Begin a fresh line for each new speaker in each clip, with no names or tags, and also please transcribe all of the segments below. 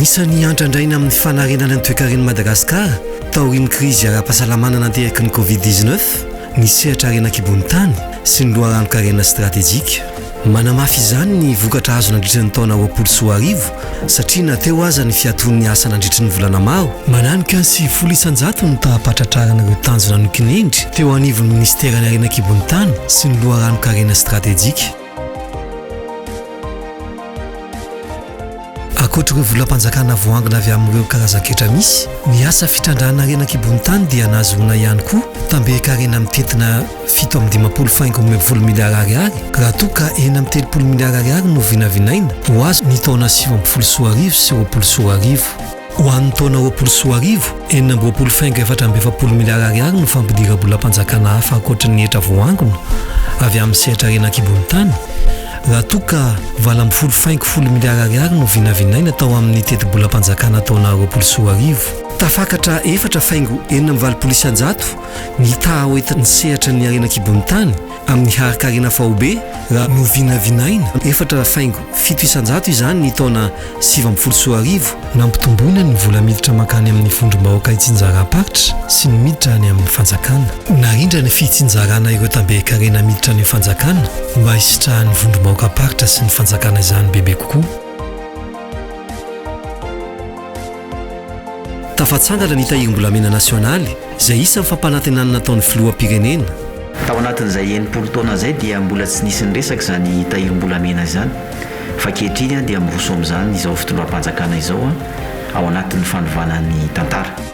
Anisan'ny hiantrandraina amin'ny fanarenana ny toekaren'i Madagasikara taorian'ny krizy ara-pahasalamana nateraky ny Covid-19 ny sehatra harena an-kibon'ny tany sy ny loharanon-karena stratejika. Manamafy izany ny vokatra azo nandritra ny taona roapolo sy roa arivo, satria na teo aza ny fiatoan'ny asa nandritry ny volana maro, Mananoka ny sivifolo isan-jato ny taham-pahatratrarana ireo tanjona nokinihindry teo anivon'ny Minisiteran'ny Harena an-kibon'ny tany sy ny loharanon-karena stratejika. Ankoatra ireo volam-panjakana voangona avy amin'ireo karazan-ketra misy, ny asa fitrandrahana harena an-kibon-tany dia nahazoana ihany koa tamberin-karena mitentina fito amby dimampolo faingo roa ambin'ny folo miliara ariary raha toa ka enina amby telopolo miliara ariary no vinavinaina ho azy ny taona sivy ambin'ny folo sy roa arivo sy roapolo sy roa arivo. Ho an'ny taona roapolo sy roa arivo, enina amby roapolo fengo efatra amby efapolo miliara ariary no fampidira-bolam-panjakana hafa ankoatry ny hetra voaangona avy amin'ny sehatra harena an-kibon'ny tany, raha toa ka valo amby folo fengo folo miliara ariary no vinavinaina tao amin'ny tetibolam-panjakana taona roapolo sy roa arivo. Tafakatra efatra fengo enina amby valopolo isan-jato ny taha hoentin'ny sehatra ny harena an-kibon'ny tany, Amin'ny harin-karena faobe, raha novinavinaina, efatra faingo fito isan-jato izany ny taona sivy ambin'ny folo sy roa arivo, nampitomboina ny vola miditra mankany amin'ny vondrom-bahoaka itsinjaram-paritra sy ny miditra any amin'ny fanjakana. Narindra ny fitsinjarana ireo tamben-karena miditra any amin'ny fanjakana mba hisitrahan'ny vondrom-bahoakam-paritra sy ny fanjakana izany bebe kokoa. Tafatsangana ny Tahirim-bolamena nasionaly, izay isan'ny fampanantenana nataon'ny filoham-pirenena. Tao anatin'izay enimpolo taona izay dia mbola tsy nisy niresaka izany tahirim-bolamena izany, fa ankehitriny dia miroso amin'izany izao fitondram-panjakana izao ao anatin'ny fanovana ny tantara.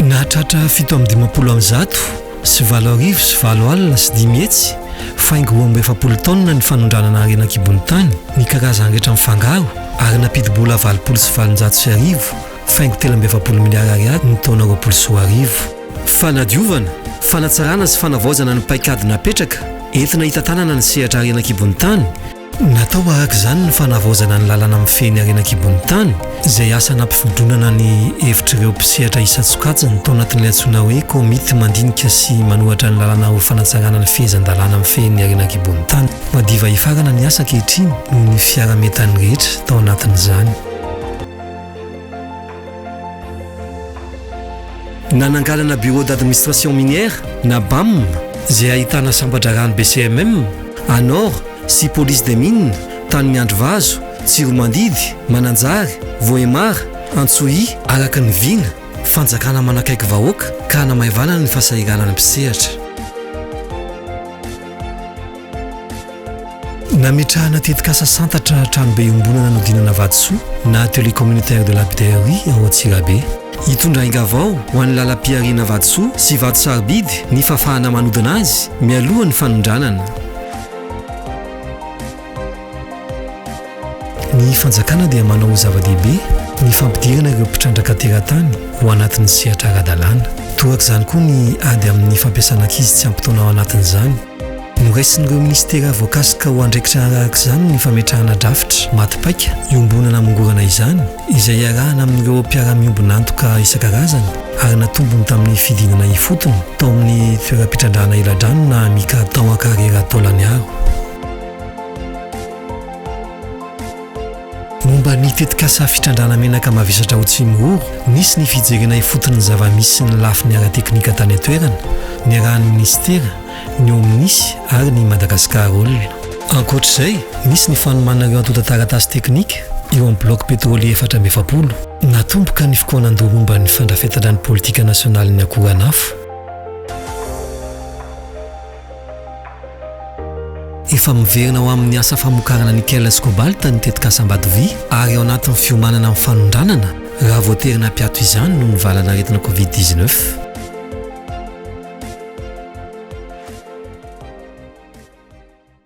Nahatratra fito amby dimampolo amby zato sy valo arivo sy valo alina sy dimy hetsy faingo roa amby efapolo taonina ny fanondranana harena an-kibon'ny tany ny karazany rehetra mifangaro ary nampidi-bola valopolo sy valonjato sy arivo faingo telo amby efapolo miliara ariary ny taona roapolo sy roa arivo. Fanadiovana, fanatsarana sy fanavaozana ny paikady napetraka entina hitantanana ny sehatra harena an-kibon'ny tany, Natao araka izany ny fanavaozana ny lalana mifehy ny harena an-kibon'ny tany, izay asa nampifodronana ny hevitr'ireo mpisehatra isan-tsokajiny tao anatin'ilay antsoina hoe Komity mandinika sy manohatra ny lalana ho fanatsarana ny fehezan-dalàna mifehy ny harena an-kibon'ny tany. Madiva hifarana ny asa ankehitriny noho ny fiaraha-mientan'ny rehetra tao anatin'izany. Nananganana Bureau d'Administration Minière na Bam izay ahitana sambatra rano BCMM, Anor sy Police des Mines tany Miandrivazo, Tsiromandidy, Mananjary, Vohemar, Antsohihy, araka ny vina, fanjakana manakaiky vahoaka ka hanamaivanana ny fahasahiranana mpisehatra. Nametrahana tetikasa santatra tranobe iombonana nodinana vatosoa na atelier communautaire de lapidaire ao Antsirabe. Hitondra aingavao ho an'ny lalam-pihariana vatosoa sy vato sarobidy ny fafana manodina azy mialoha ny fanondranana. Ny fanjakana dia manao ho zava-dehibe ny fampidirana ireo mpitrandraka teratany ho anatin'ny sehatra ara-dalàna. Torak'izany koa ny ady amin'ny fampiasana ankizy tsy ampy taona ao anatin'izany. Noraisin'ireo minisitera voakasika ho andraikitra arahaka izany ny fametrahana drafitra maty paika iombonana hamongorana izany, izay iarahana amin'ireo mpiara-miombon'antoka isan-karazany ary natombony tamin'ny fidinana ifotony tao amin'ny toeram-pitrandrahana eladrano na Amica tao Ankarera Taolagnaro. Momba ny tetikasa fitrandrahana menaka mavesatra ao Tsimihoro, nisy ny fijerena ifotony ny zava-misy sy ny lafiny ara-teknika tany an-toerana, niarahan'ny minisitera, ny OMNIS ary ny Madagascar Oil. Ankoatra izay, nisy ny fanomana ireo antontan-taratasy teknika eo amin'ny bilaogy petrolier efatra amby efapolo. Natomboka ny fikaonan-doha momba ny fandrafetana ny politika nasionalin'ny akoranafo. Efa miverina ho amin'ny asa famokarana nickel sy cobalt ny tetikasa Ambatoviha ary ao anatin'ny fiomanana amin'ny fanondranana raha voatery nampiato izany noho ny valanaretina covid dix-neuf.